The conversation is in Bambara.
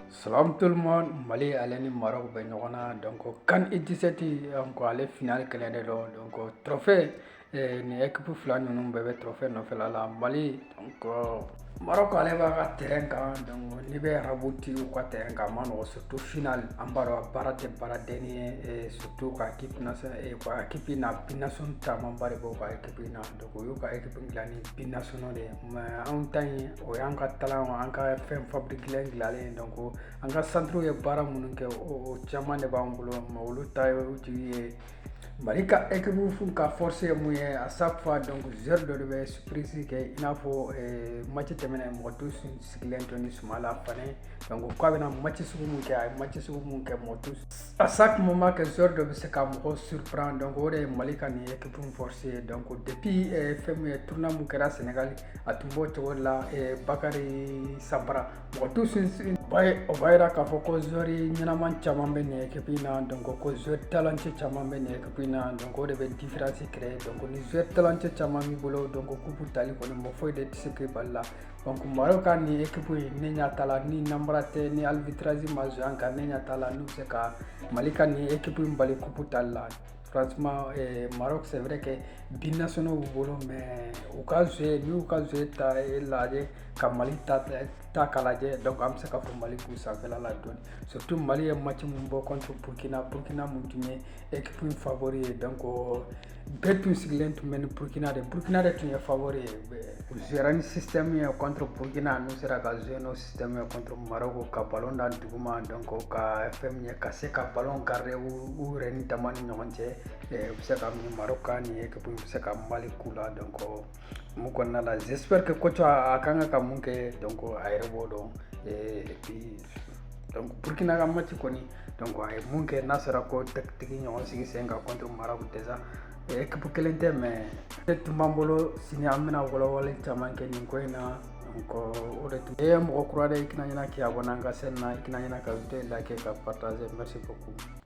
Salam tout le monde Mali ale ni Maroc bɛ ɲɔgɔn na donc CAN U17 donc ale final kɛlɛ de don donc trophée eh, nin équipe fila ninnu bɛɛ bɛ trophée nɔfɛla la Mali donc Maroc ale b'a ka terrain kan donc n'i bɛ arabu ti u ka terrain kan a man nɔgɔ surtout final an b'a dɔn baara tɛ baaradennin ye eh, surtout ka ka équipe na binational camanba de b'o ka équipe na donc O y'u ka ekipu dilan ni binational de ye mais anw ta in o y'an ka talent an ka fɛn fabriquelen dilanlen donc an ka centre ye baara minnu kɛ o caman de b'an bolo mais olu ta ye olu jigi ye mali ka ekipu fo ka force ye mun ye à chaque fois donc joueur dɔ de bɛ surprise kɛ i n'a fɔ mati tɛmɛnen mɔgɔ tun sigilen tɛ ni Sumayila Fane donc k'a bɛna mati sugu min kɛ a ye mati sugu min kɛ mɔgɔ tun A sa tun ma kɛ sori dɔ bɛ se ka mɔgɔ surupran dɔn o de ye mali ka nin ye kep fsi ye dɔn ko deppi fɛn min ye tun min kɛra sɛnɛgali a tun b'o cogo la bakarijan sanra mɔgɔ tu sin o b'a jira k'a fɔ koɔri ɲɛnaman caman bɛ nin kep in na dɔn ko zootalanci caman bɛ nin kep in na dɔn o de bɛ difasi kɛrɛfɛ dɔn ni zootalanci caman min bolo dɔn ko kup tali kɔnɔ mɔ foyi de tɛ se bali la donc maroc ka nin ekipu in ne ɲa t'a la ni nanbara tɛ ni arbitrage ma jouer an kan ne ɲa t'a la n'u bɛ se ka mali ka nin ekipu in bali kupu tali la franchement eh, maroc c'est vrai que binationaux b'u bolo mais u ka jouer n'u ka jouer ta lajɛ ka mali ta ta k'a lajɛ donc an bɛ se ka fɔ mali b'u sanfɛla la dɔɔni surtout mali ye match min bɔ contre burkina burkina min tun ye ekipu in favori ye donc bɛɛ tun sigilen tun bɛ ni burukina de burukina de tun ye favori ye u jouera ni système ye contre burukina n'u sera ka jouer n'o système ye contre maroko ka ballon da duguma donc ka fɛn min ye ka se ka ballon garder u yɛrɛ ni dama ni ɲɔgɔn cɛ u bɛ se ka min maroko ka nin équipe bɛ se ka mali k'u la donc mun kɔnɔna la j'espère que coach a kan ka ka mun kɛ donc a yɛrɛ b'o dɔn et puis donc burkina ka mati kɔni donc a ye mun kɛ n'a sera k'o tactique ɲɔgɔn sigi sen kan contre maroc déjà ekipu kelen tɛ mais nin tun b'an bolo sini an bɛna walawale caman kɛ nin ko in na donc o de tun ye mɔgɔ kura de i kana ɲina k'i abonner an ka chaîne na i kana ɲina ka vidéo liker ka partager merci beaucoup